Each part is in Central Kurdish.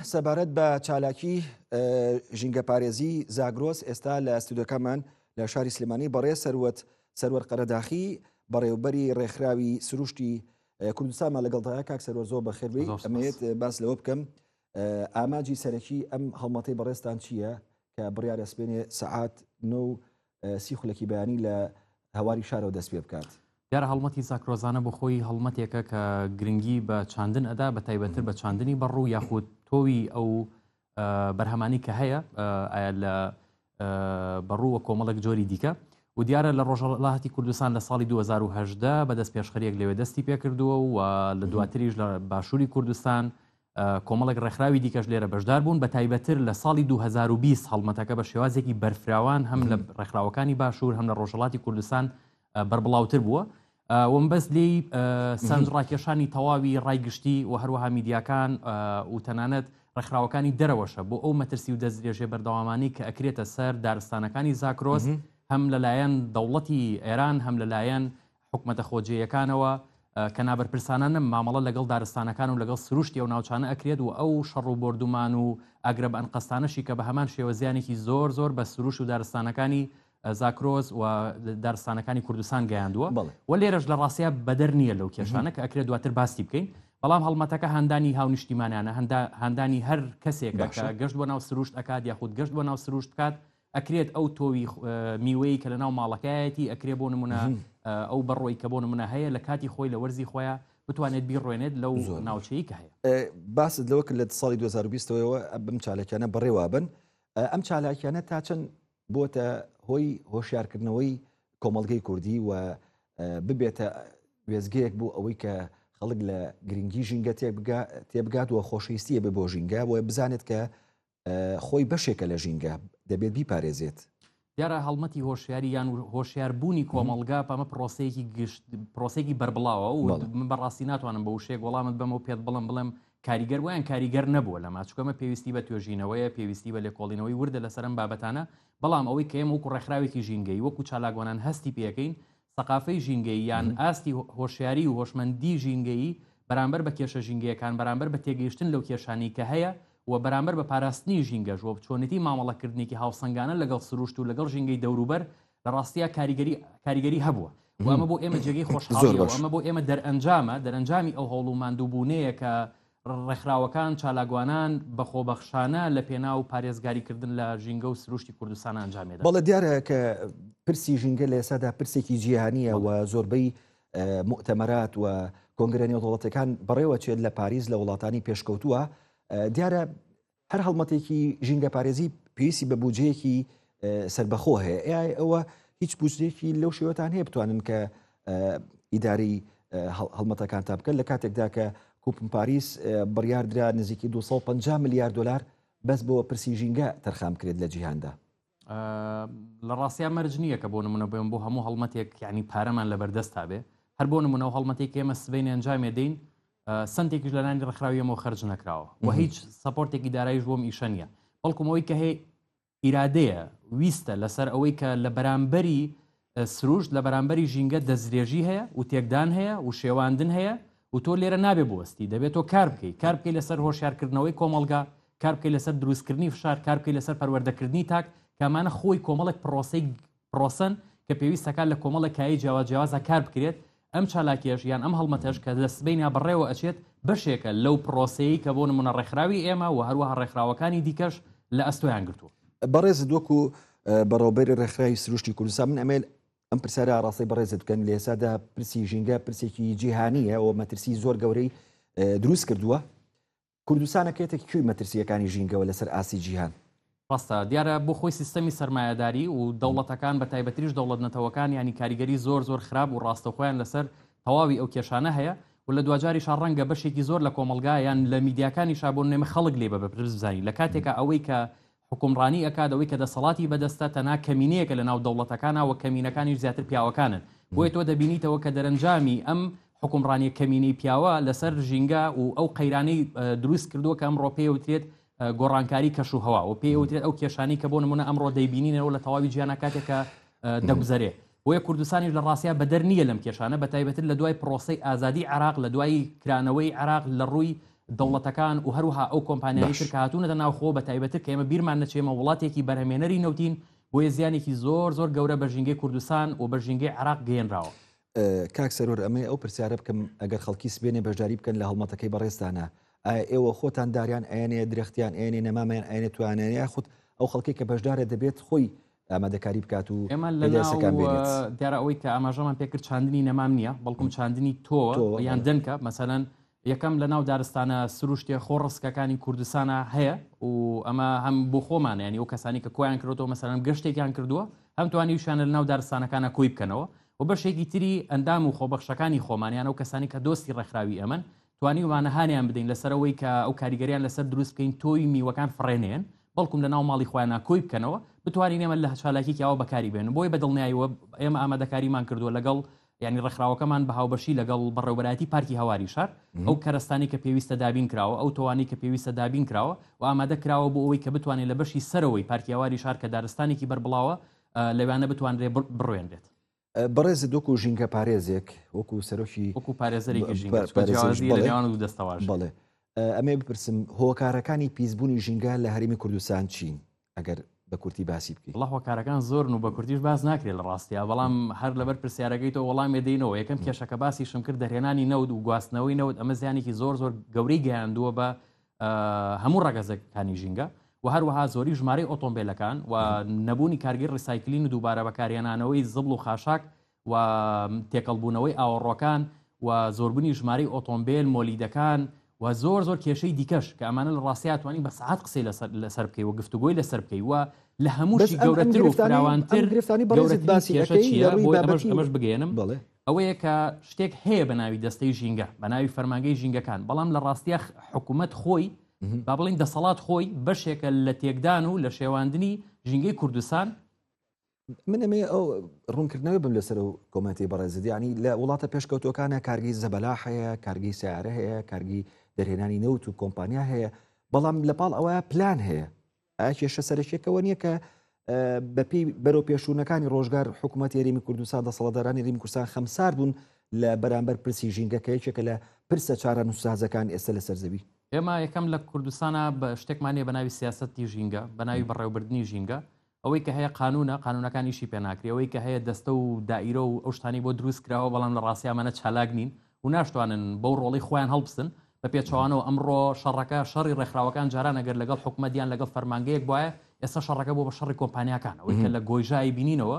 سەبارەت بە چالاکی ژینگەپارێزی زاگرۆس ئێستا لە ستودەکەمان لە شاری سلمانی بەڕێ سەروەت سەروەر قەرەداخی بەڕێوبەری ڕێکخراوی سروشتی کوردستانمان لەگەڵدا کاک سەروەر زۆر بەخێربی ئەمێت باس لەوە بکەم ئاماجی سەرەکی ئەم هەڵمەتەی بەڕێستان چییە کە بڕیارە سپێنێ سەعات نۆ سی خولەکی بەیانی لە هەواری شارەوە دەست پێ بکات. دیارە هەڵمەتی زاکرۆزانە بۆ خۆی هەڵمەتێکە کە گرنگی بە چاندن ئەدا بە تایبەتتر بە چاندنی بەڕوو یاخود تۆوی ئەو بەرهەمانی کە هەیە ئایا لە بەڕووە کۆمەڵک جۆری دیکە و دیارە لە ڕۆژەڵاتی کوردستان لە ساڵی 2010 بەدەست پێشخەریەک لەوێ دەستی پێکردووە و لە دواتریش لە باشووری کوردستان کۆمەڵێک ڕێکخراوی دیکەش لێرە بەشدار بوون بە تایبەتر لە ساڵی 2020 هەڵمەتەکە بە شێوازێکی بەرفراوان هەم لە ڕێکخراوەکانی باشوور هەم لە ڕۆژهڵاتی کوردستان بەربڵاوتر بووە وم بەس لی سند ڕاکێشانی تەواوی ڕای گشتی و هەروەها میدیاکان و تەنانەت ڕێکخراوەکانی دەرەوەشە بۆ ئەو مەترسی و دەستدرێژێ بەردەوامانی کە ئەکرێتە سەر دارستانەکانی زاکرۆز هەم لەلایەن دەوڵەتی ئێران هەم لەلایەن حکومەتە خۆجێیەکانەوە کە نابەرپرسانە نم مامەڵە لەگەڵ دارستانەکان و لەگەڵ سروشتی ئەو ناوچانە ئەکرێت و ئەو شەڕ و بردومان و ئەگرە بە ئەنقەستانەشی کە بە هەمان شێوەزیانێکی زۆر زۆر بە سروش و دارستانەکانی زاکرۆز و دارستانەکانی کوردستان گەیاندووە و لێرەش لە ڕاستە بەدەر نییە لەو کێشانە کە ئەکرێت دواتر باسی بکەین بەڵام هەڵمەتەکە هەندانی هاونیشتیمانانە هەندانی هەر کەسێک گەشت بۆ ناو سروشت ئەکات یاخود گەشت بۆ ناو سروشت بکات ئەکرێت ئەو تۆوی میوەیە کە لە ناو ماڵەکایەتی ئەکرێ بۆ نمونە ئەو بەڕۆی کە بۆ نمونە هەیە لە کاتی خۆی لە وەرزی خۆیان بتوانێت بیڕوێنێت لەو ناوچەیە هەیە باست لەوە لە ساڵی 2020ەوە بم چاالکیانە بەڕێوابن ئەم چالاکیانە تا چەند بۆتە هۆی هۆشیارکردنەوەی کۆمەلگەی کوردی و ببێتە وێزگەیەک بۆ ئەوەی کە خەڵک لە گرنگی ژینگە تێبگا تێبگات و خۆشەویستیە بە بۆ ژینگە بۆ بزانێت کە خۆی بەشێکە لە ژینگە دەبێت بیپارێزێت دیارە هەڵمەتی هۆشیاری یان و هۆشیاربوونی کۆمەلگا پەمە پرۆسەیەکی گشت پرۆسێکی بەربڵاوە و من بەڕاستی ناتوانم بە وشێک وەڵامت بەم و پێت بڵم بڵێم کاریگەر ویان کاریگەر نەبووە لە ماچکەمە پێویستی بە توێژینەوەیە پێویستی بە لێکۆڵینەوەی وردە لەسەرم بابەتانە بەڵام ئەوەی کەم وەکو ڕێکخراوێکی ژینگەی وەکو چالاگوانان هەستی پێەکەین سەقافەی ژینگەیی یان ئاستی هۆشیاری و هۆشمەندی ژینگەیی بەرامبەر بە کێشە ژینگەیەکان، بەرامبەر بە تێگەیشتن لەو کێشانەی کە هەیە و بەرامبەر بە پاراستنی ژینگەش و چۆنێتی مامەڵەکردنێکی هاوسەنگانە لەگەڵ سروشت و لەگەڵ ژینگەی دەوروبەر لە ڕاستیا کاریگەری کاریگەری هەبووە و ئەمە بۆ ئێمە جێگەی خۆشحاڵییە و ئەمە بۆ ئێمە دەرئەنجامە دەرئەنجامی ئەو هەوڵ و ماندووبوونەیە کە ڕێکخراوەکان، چالاکوانان بە خۆبەخشانە لە پێناو پارێزگاری کردن لە ژینگە و سروشتی کوردستان ئەنجامی دەدەن. بەڵێ دیارە کە پرسی ژینگە لە ئێستادا پرسێکی جیهانییە و زۆربەی موئتەمەرات و کۆنگرە نێودەوڵەتیەکان بەڕێوە چێت لە پاریس لە وڵاتانی پێشکەوتووە دیارە هەر هەڵمەتێکی ژینگەپارێزی پێویستی بە بودجەیەکی سربەخۆ هەیە ئای ئەوە هیچ بودجەیەکی لەو شێوەتان هەیە بتوانن کە ئیداری هەڵمەتەکان تا بکەن لە کاتێکدا کە کوپم پاریس بڕیاردرا نزیکی 250 میلیارد دلار بەس بۆ پرسی ژینگە تەرخام کرێت لە جیهاندا لە ڕاستیا مەرج نییە کە بۆ نمونە بێن بۆ هەموو هەڵمەتێک یعنی پارەمان لە بەردەست تا بێ هەر بۆ نمونەوە هەڵمەتێک ئێمە سبین ئەنجامێ دەین سنتێکیش لەلانی ڕخراویەمەوە خرج نەکراوە و هیچ سپۆرتێکی دارایش بۆم ئیشە نیە بەڵکومەوەی کە هەیە ئیرادەیە ویستە لەسەر ئەوەی کە لە بەرامبەری سروشت لە بەرامبەری ژینگە دەستدرێژی هەیە و تێکدان هەیە و شێواندن هەیە و تۆ لێرە نابێ بوەستی دەبێت تۆ کار بکەی کار بکەی لەسەر هۆشیارکردنەوەی کۆمەڵگا کار بکەی لەسەر دروستکردنی فشار کار بکەی لەسەر پەروەردەکردنی تاک کامانە خۆی کۆمەڵێک پرۆسی پرۆسن کە پێویستەکان لە کۆمەڵە کای جیاواز جیاوازە کار بکرێت ئەم چالاکیەش یان ئەم هەڵمەتەش کە لە سبەینێ بەڕێوە ئەچێت بەشێکە لەو پرۆسەیەی کە بۆ نمونە ڕێکخراوی ئێمە و هەروەها ڕێکخراوەکانی دیکەش لە ئەستۆیان گرتووە. بەڕێزت وەکو بەڕێوەبەری ڕێکخراوی سروشتی کوردستان من ئەمێل ئەم پرسیارە ئاڕاستەی بەڕێزت بکەن لە ئێسادا پرسی ژینگە پرسێکی جیهانیە و مەترسی زۆر گەورەی دروست کردووە کوردستانە کێتە کوی مەترسییەکانی ژینگەوە لەسەر ئاستی جیهان. ڕاستە، دیارە بۆ خۆی سیستەمی سەرمایەداری و دەوڵەتەکان بە تایبەتریش دەوڵەت نەتەوەکانیانی کاریگەری زۆر زۆر خراپ و ڕاستەوخۆیان لەسەر تەواوی ئەو کێشانە هەیە و لە دواجاریشا ڕەنگە بەشێکی زۆر لە کۆمەڵگا یان لە میدیاکانیشا بۆ نمونە خەڵک لێی بە بەپرس بزانی لە کاتێکا ئەوەی کە حوکمڕانی ئەکات ئەوەی کە دەسەڵاتی بەدەستە تەنها کەمینەیەکە لە ناو دەوڵەتەکانا وە کەمینەکانیش زیاتر پیاوەکانن بۆیە تۆ دەبینیتەوە کە دەرەنجامی ئەم حوکمڕانیە کەمینەی پیاوە لەسەر ژینگە و ئەو قەیرانەی دروست کردووە کە ئەمڕۆ پێی وترێت گۆڕانکاری کەش و هەوا و پێی وترێت ئەو کێشانی کە بۆ نمونە ئەمڕۆ دەیبینینەوە لە تەواوی جیانا کاتێکە دەگوزەرێ بۆیە کوردستانیش لە ڕاستیا بەدەر نییە لەم کێشانە بە تایبەتر لە دوای پرۆسی ئازادی عراق لە دوای کرانەوەی عراق لە ڕووی دەوڵەتەکان و هەروەها ئەو کۆمپانیانەی تر باش. کە هاتوونەتە ناوخۆ بە تایبەتر کە ئێمە بیرمان نەچێ ئێمە وڵاتێکی بەرهەمێنەری نەوتین بۆیە زیانێکی زۆر زۆر گەورە بە ژینگەی کوردستان و بە ژینگەی عێراق گەیەنراوە. کاک سەرور ئەمەی ئەو پرسیارە بکەم ئەگەر خەڵکی سبێنێ بەشداری بکەن لە هەڵمەتەکەی بەڕێزتانا ئایا ئێوە خۆتان داریان ئەیەنێ درەختیان ئەیەنێ نەمامیان ئەیەنێ تویانیان یاخود ئەو خەڵکەی کە بەشدارە دەبێت خۆی ئامادەکاری بکات و ئێمە لە پێدا ناو یەسەکان بێنێت؟ دیارە ئەوەی کە ئاماژەمان پێ کرد چاندنی نەمام نییە بەڵکم چاندنی تۆوە تۆوە، یان بەڵێ. دەنکە مەسەلەن یەکەم لە ناو دارستانە سروشتێ خۆ ڕسکەکانی کوردستانە هەیە و ئەمە هەم بۆ خۆمان ینی و کەسانی کە کۆیان کردەوە مەسەرم گەشتێکیان کردووە هەم توانیوشانە لە ناو دارستانەکانە کۆی بکەنەوە و بەشێکی تری ئەندام و خۆبەخشەکانی خۆمانیان و کەسانی کە دۆستی ڕێکخراوی ئەمەن توانیومانە هانیان بدەین لەسەرەوەی کە ئەو کاریگەریان لەسەر دروست بکەین تۆی میوەکان فڕێنێن بەڵکم لە ناو ماڵی خۆیان ناکۆی بکەنەوە بتوانین ئێمە لە هەچالاکیکیەوە بەکاری بێن بۆی بە دڵنیاییەوە ئێمە ئامادەکاریمان کردووە لەگەڵ یانی ڕێکخراوەکەمان بە هاوبەشی لەگەڵ بەڕێوەبەرایەتی پارکی هەواری شار ئەو کەرەستانەی کە پێویستە دابین کراوە، ئەو تۆوانەی کە پێویستە دابین کراوە و ئامادە کراوە بۆ ئەوەی کە بتوانێت لە بەشی سەرەوەی پارکی هەواری شار کە دارستانێکی بەربڵاوە لەوانە بتوانرێت بڕوێنرێت. بەڕێزت وەکو ژینگە پارێزێک وەکو سەرۆکی وەکو پارێزەرێکی ژینگە بە جیاوازی لە نێوان دوو دەستەواژە. بەڵێ ئەمەیە بپرسم هۆکارەکانی پیسبوونی ژینگە لە هەرێمی کوردستان چین؟ ئەگەر بە کورتی باسی بکەی وڵا هۆکارەکان زۆرن و بە کوردیش باز ناکرێت لە ڕاستیا بەڵام هەر لەبەر پرسیارەکەی تۆ وەڵامی دەینەوە یەکەم کێشەکە باسی شم کرد دەرهێنانی نەود و گواستنەوەی نەوت ئەمە زیانێکی زۆر زۆر گەورەی گەیاندووە بە هەموو ڕگەزەکانی ژینگە و هەروەها زۆری ژمارەی ئۆتۆمبیلەکان و نەبوونی کارگەی ڕیسایکلین و دووبارە بەکارهێنانەوەی زبڵ و خاشاک و تێکەڵ بوونەوەی ئاوەڕۆکان و زۆربونی ژمارەی ئۆتۆمبێل مۆلیدەکان و زۆر زۆر کێشەی دیکەش کە ئەمانە لە ڕاستەیە توانی بە سەعات قسەی لەسەر لەسەر بکەی و گفتوگۆی لەسەر بکەی و لە هەمووشی گەورەتر و فراوانتر گرفتانی بەڕێزت باسی کێشە چیە بۆی ئەمەش ئەمەش بگەێنم بڵێ ئەوەیە کە شتێک هەیە بە ناوی دەستەی ژینگە بە ناوی فەرمانگەی ژینگەکان بەڵام لە ڕاستیە حکوومەت خۆی با بڵین دەسەڵات خۆی بەشێکە لە تێکدان و لە شێواندنی ژینگەی کوردستان من ئەمێ ئەو ڕوونکردنەوە بم لەسەر و کۆمەنتی بەڕێزت ینی لە وڵاتە پێشکەوتوەکانە کارگی زەبەلا هەیە کارگی سیارە هەیە کارگی دەرهێنانی نەوت و کۆمپانیا هەیە بەڵام لە پاڵ ئەوە پلان هەیە ئایا کێشە سەرەکیەکەەوە نییە کە بەپی بەرەو پێشوونەکانی ڕۆژگار حکوومەت یاریمی کوردستان دەسەڵدارانی ریم کوردستان خەمسار بوون لە بەرامبەر پرسی ژینگە کە یەکێکە لە پرسە چارە نووسازەکان ئێستا لە سەرزەوی ئێمە یەکەم لە کوردستانە بە شتێکمانە بە ناوی سیاستی ژینگە بە ناوی بەڕێوبردننی ژینگە ئەوەی کە هەیە قانوونە، قانوونەکان ئیشی پێ ناکری، ئەوەی کە هەیە دەستە و دائیرە و ئەو شتانەی بۆ درووست کراوە، بەڵام لە ڕاستی ئەمانە چالاک نین و ناشتوانن بەو ڕۆڵەی خۆیان هەڵبستن، بە پێچەوانەوە ئەمڕۆ شەڕەکە شەڕی ڕێکخراوەکان جاران ئەگەر لەگەڵ حکومەت یان لەگەڵ فەرمانگەیەک بوایە ئێستا شەڕەکە بووە بە شەڕی کۆمپانیاکان، ئەوەی کە لە گۆیژە ئەیبینینەوە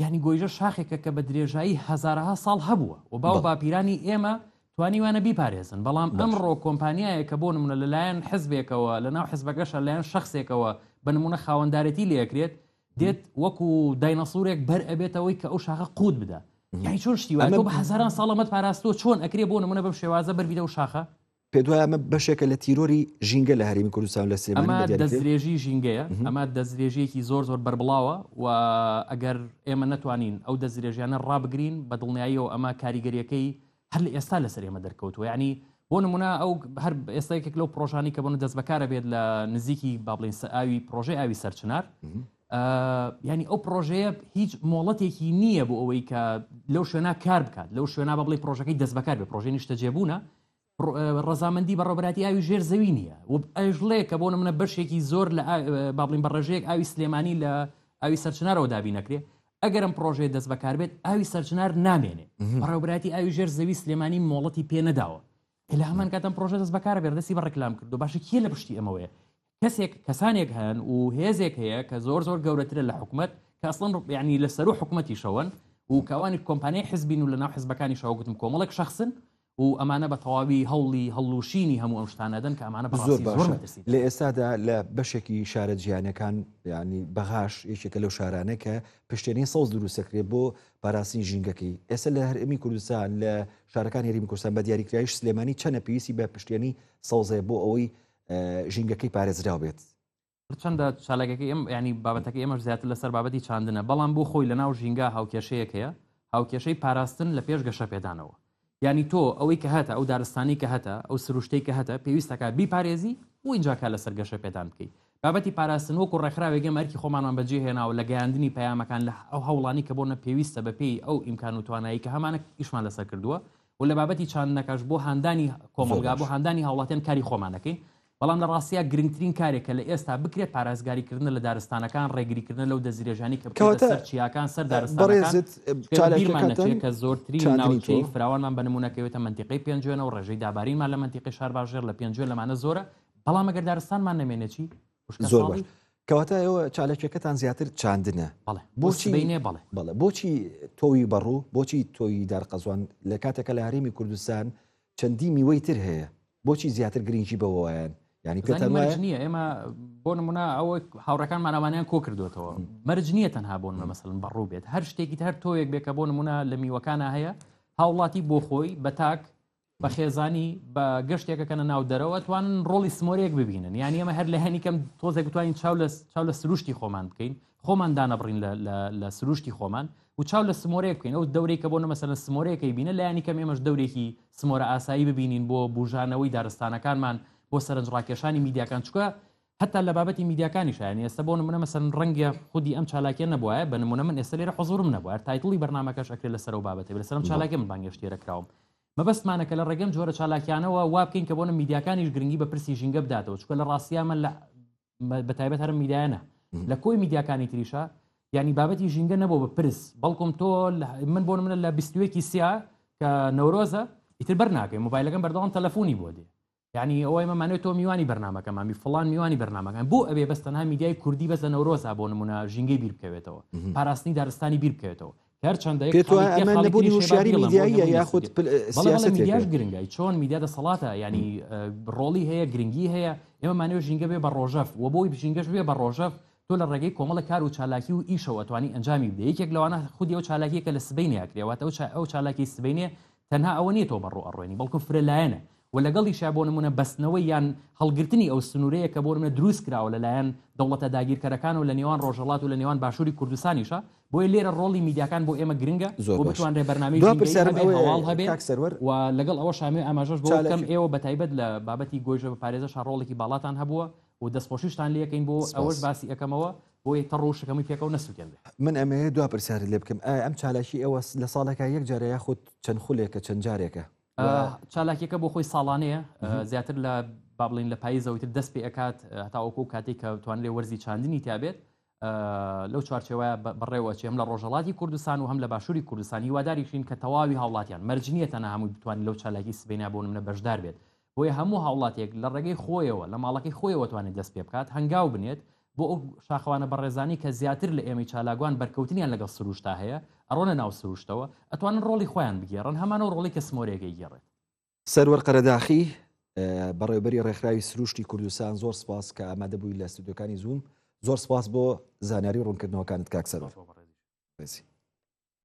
یانی گۆیژە شاخێکە کە بە درێژایی هزارها ساڵ هەبووە و باو باپیرانی ئێمە توانیوانە بیپارێزن بەڵام ئەمڕۆ کۆمپانیایە کە بۆ نمونە لەلایەن حزبێکەوە لە ناو حزبەکەشە لایەن شخصێکەوە بە نمونە خاوەندارێتی لەکرێت دێت وەکو داینەسوورێک بەر ئەبێتەوەی کە ئەو شاخە قووت بدە یانی چۆن شتیوە بە هزاران ساڵەمەت پاراستۆ چۆن ئەکرێ بۆ نمونە بەم شێوازە بەربیدە و شاخە پێت وایە ئەمە بەشێکە لە تیرۆری ژینگە لە هەرێمی کوردستان و لە سلێمانی بە ئەمە دیاری کرێ؟ دەستدرێژی ژینگەیە، ئەمە دەستدرێژییەکی زۆر زۆر بەربڵاوە و ئەگەر ئێمە نەتوانین ئەو دەستدرێژیانە ڕابگرین بە دڵنیاییەوە ئەمە کاریگەرییەکەی هەر لە ئێستا لەسەر ئێمە دەرکەوتووە یعنی بۆ نمونە ئەو هەر ئێستا یەکێک لەو پرۆژانەی کە بۆنە دەست بەکارە بێت لە نزیکی با بڵێن سە ئاوی پرۆژەی ئاوی سەرچنار ئا، یعنی ئەو پرۆژەیە هیچ مۆڵەتێکی نییە بۆ ئەوەی کە لەو شوێنا کار بکات لەو شوێنا بە بڵێ پرۆژەکەی دەست بەکار بێت پرۆژەی نیشتەجێبوونە ڕزامەندی بەڕۆبەتی ئاوی ژێر زەوی نییە و ئەژڵێ کە بۆ منە بەشێکی زۆر لە بابلین بەڕێژەیەک ئاوی سلێمانی لە ئاوی سەرچنارەوە دابی نەکرێ ئەگەرم پرۆژێ دەست بەکاربێت ئاوی سەرچنار نامێنێ بەڕێوبراتی ئاوی ژێر زەوی سلێمانی مۆڵەتی پێ نەداوە کە لە هەمان کاتم پرۆژە دەست بەکارە بێردەسی بە ڕکلام کردو باشە کیە لە پشتی ئەمەوەیە کەسێک کەسانێک هەن و هێزێک هەیە کە زۆر زۆر گەورەترە لە حکوومەت کە ئەسڵن ڕوپیانی لە سەر و حکوومەتی شەوەن و کاوانی کۆمپانیای حزبین و لە ناو حزبەکانی شەوەگوتم کۆمەڵک شخصن و ئەمانە بە تەواوی هەوڵی هەڵلوشینی هەموو ئەم شتانەدەن کە ئەمانە زۆر باش لە ئێستادا لە بەشێکی شارە جیانەکان ینی بەغاش یەکێکە لەو شارانە کە پشتێنی سەوز دروستەکرێت بۆ پاراستنی ژینگەکەی ئێستا لە هەرمی کوردستان لە شارەکان هەرمی کوردستان بە دیاریکراوی سلێمانی چەنە پێویستی بە پشتێنی سەوزێ بۆ ئەوەی ژینگەکەی پارێزراو بێت. هەرچەندە چالاکەکەی ئەم ینی بابەتەکە ئێمەش زیاتر لەسەر بابەتی چاندنە بەڵام بۆ خۆی لە ناو ژینگە هاوکێشەیەک هەیە هاوکێشەی پاراستن لە پێش گەشە پێدانەوە ینی تۆ ئەوەی کە هەتە ئەو دارستانی کە هەتە ئەو سروشتەی کە هەتە پێویستەکە بیپارێزی و اینجاکە لەسەر گەشە پێدان بکەیت بابەتی پاراستن وەکو ڕێکخراوێگەم ئەرکی خۆمانمان بەجێ هێناوە لە گەیاندنی پەیامەکان لە ئەو هەوڵانی کە بۆ نە پێویستە بەپی ئەو ئیمکان و توانایی کە هەمانە ئیشمان لەسەر کردووە و لە بابەتی چاندنەکەش بۆ هاندانی کۆمەڵگا بۆ هاندانی هاوڵاتیان کاری خۆمانەکەین بەڵام لە ڕاستیا گرنگترین کارێک کە لە ئێستا بکرێت پارازگاریکردن لە دارستانەکان ڕێگریکردن لەو دەستدرێژانی کە بکەوتە سەر چیاکان سەر دارستانەکان کە زۆرتری ناوچەی فراوانمان بە نمونونەکەوێتە منتیقی پێنجێنە و ڕێژەی دابارینمان لە منتیقی شار باژێر لە پێنجێ لەمانە زۆرە بەڵام ئەگەر دارستانمان نەمێنێتی زۆر باش کەواتە ئێوە چاالکیەکەتان زیاتر چاندنە بۆچی بینێ بڵێ بڵێ بۆچی تۆوی بەڕوو بۆچی تۆی دارقەزوان لە کاتێکە لە هەرێمی کوردستان چەندی میوەی تر هەیە بۆچی زیاتر گرنگی بەوەیان ینی پێ نییە ئێمە بۆ نمونە ئەوە هاوڕەکان ماناوانیان کۆ کردوێتەوە مەرج نییە تەنها بۆن بە مەسەن بەڕوو بێت هەر شتێکی هەر تۆیەک بێکە بۆ نمونە لە میوەکانە هەیە هاوڵاتی بۆ خۆی بە تاک بە خێزانی بە گەشتێکە کەە ناو دەرەوە توانن ڕۆڵی سمۆرێک ببینن یان ئەمە هەر لە هەنی کەم تۆزێک بتوانین چاو لە چاو لە سروشتی خۆمان بکەین خۆمان دانەبڕین لە سروشتی خۆمان و چاو لە سمۆرێک بکەین ئەو دەورەی کە بۆ نەمەسە لە سمۆرەکەی بینە لایانی کەم ئێمەش دەورێکی سمۆرە ئاسایی ببینین بۆ بژانەوەی دارستانەکانمان بۆ سەرنجڕاکێشانی میدیاکان چکە هەتا لە بابەتی میدیاکانیشە یانی ئێستا بۆ نمونە مەسەن ڕەنگە خودی ئەم چالاکیە نەبوایە بە نمونە من ئێستا لێرە حزورم نەبوار تایتڵی بەرنمەکەش ئەکرێت لەسەر و بابەتی لە سەرم چالاکی من بانگێشتێرە کراوم مەبەستمانە کە لە ڕێگەم جۆرە چالاکیانەوە وا بکەین کە بۆنە میدیاکانیش گرنگی بە پرسی ژینگە بداتەوە چکە لە ڕاستیامە لە بە تایبەت هەرم میدایەنە لە کۆی میدیاکانی تریشە ینی بابەتی ژینگە نەبوو بە پرس بەڵکم تۆ من بۆ منە لە بیستوێکی سیا کە نەورۆزە ئیتر بەر ناکەی موبایلەکەم بەردەوام تەلەفۆنی بۆ دێ یانی ئەوەی مەمانێت تۆ میوانی بەرنمەکەمامی فلان میوانی بەرنمەکان بۆ ئەوێ بەس تەنها میدیای کوردی بەس لە نەورۆزا بۆ نمونە ژینگەی بیر بکەوێتەوە پاراستنی دارستانی بیر بکەوێتەوە هەرچەندە یاخود میدیاش گرنگای چۆن میدیا دەسەڵاتە ینی ڕۆڵی هەیە گرنگی هەیە ئێمە مانەوە ژینگە بێ بە ڕۆژەف و بۆی بژینگەش بێ بە ڕۆژەف تۆ لە ڕێگەی کۆمەڵە کار و چالاکی و ئیشەوە توانی ئەنجامی بدە یەکێک لەوانە خودی ئەو چالاکیەکە لە سبینیاکرێواتەوە ئەو چالاکی سبینێ تەنها ئەوە نیە تۆ بەڕوو ئەڕوێنی بەڵکو فرە لایەنە و لەگەڵیشا بۆ نمونە بەستنەوەی یان هەڵگرتنی ئەو سنورەیە کە بۆ نمونە دروست کراوە لەلایەن دەوڵەتە داگیرکەرەکان و لە نێوان ڕۆژهەڵات و لە نێوان باشوری کوردستانیشە بۆیە لێرە ڕۆڵی میدیاکان بۆ ئێمە گرنگە زۆر بتوانرێ بەرنامەی هەواڵ هەبێ و لەگەڵ ئەوە شامێ ئاماژەش بۆ بکەم ئێوە بەتایبەت لە بابەتی گۆیژە بە پارێزە شاڕۆڵێکی باڵاتان هەبووە و دەستخۆشیشتان لێکەین بۆ ئەوەش سپاس. باسی ئەکەمەوە بۆی تەڕ و شەکەموی پێکەوە نەسوتێنرێ. من ئەمەوێ دوا پرسیارت لێ بکەم ئایا ئەم چالاکی ئێوە لە ساڵێکا یەک جارە یاخود چەند خولێکە چەند جارێکە؟ ئا و چالاکیەکە بۆ خۆی ساڵانەیە ئا زیاتر لە با بڵێین لە پاییزەوەی تر دەست پێ ئەکات هەتاوەکوو ئەو کاتەی کە توانرێ وەرزی چاندنی تیا بێت لەو چوارچێوەیە بەڕێوە ئەچێ هەم لە ڕۆژهەڵاتی کوردستان و هەم لە باشووری کوردستان هیواداریشین کە تەواوی هاوڵاتیان مەرج نییە تەنها هەمووی بتوانین لەو چالاکی سبەینە بۆ نمونە بەشدار بێت بۆیە هەموو هاوڵاتێک لە ڕێگەی خۆیەوە لە ماڵەکەی خۆیەوە توانێت دەست پێ بکات هەنگاو بنێت بۆ ئەو شاخەوانە بەڕێزانی کە زیاتر لە ئێمەی چالاکوان بەرکەوتنیان لەگەڵ سروشتا هەیە ئەڕۆنە ناو سروشتەوە ئەتوانن ڕۆڵی خۆیان بگێڕن هەمانەو ڕۆڵی کە سمۆرەیەکەی گێڕێت سەروەر قەرەداخی، بەڕێوبەری ڕێکخراوی سرووشتی کوردستان زۆر سپاس کە ئامادە بووی لە ستودیۆکانی زووم زۆر سپاس بۆ زانیاری ڕوونکردنەوەکانت کاک سەروەر.